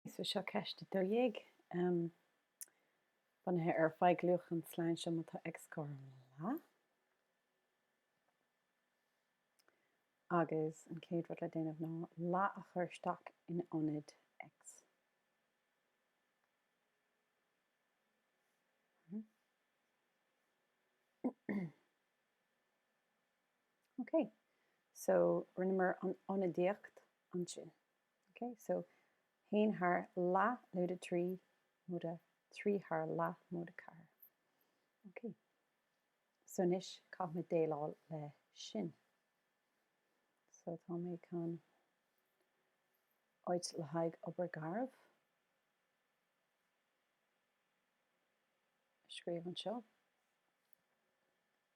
So seo ceist a dó dhéag, bunaithe ar faigh luach an sloinn seo, má tá x cothrom le leath. Agus an chéad rud le déanamh ná leath a chur isteach in ionad x. Ok, so rinneamar an ionadaíocht ansin. OK, so haon thar leath lúide trí móide trí thar leath móide ceathair. OK. So anois caithfimid déileáil le sin. So tá mé chun áit le haghaidh obair garbh a scríobh anseo.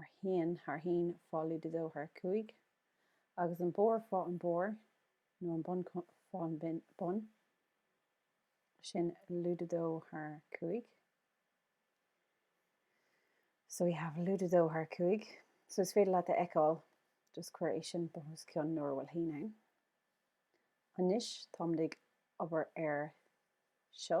ar haon thar haon fá lúide dó thar cúig agus an barr fá an barr nó an bun fá an bun, sin lúide dó thar cúig so we have lúide dó thar cúig so is féidir leat a fheiceáil just cuir é sin bun os cionn nuair a bhfuil haon ann. Anois táimid ag obair ar seo.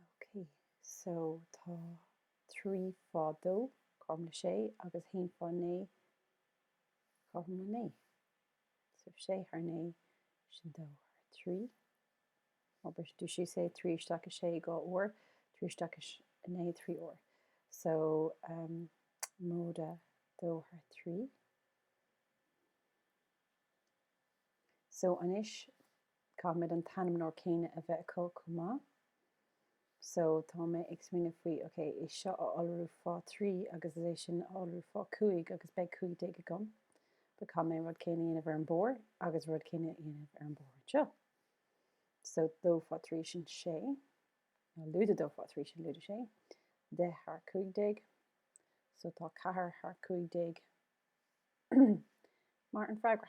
Ok, so tá trí fá dó, cothrom le sé, agus haon fá naoi, cothrom le naoi. So sé thar naoi, sin dó thar trí. Má briseann tú síos é, trí isteach i sé, dhá uair, trí isteach i naoi, trí uair. So móide dó thar trí. So anois, Caithfimid an t-ainmneoir céanna a bheith acu chomh maith. So, tá mé ag smaoineamh faoi, ok, é seo a iolrú fá trí agus é sin a iolrú fá cúig agus beidh cúig déag agam. But caithfidh mé rud céanna a dhéanamh ar an barr agus rud céanna a dhéanamh ar an barr anseo. So, dó fá trí sin sé, nó lúide dó fá trí sin lúide sé, deich thar cúig déag. So, tá ceathair thar cúig déag mar an freagra.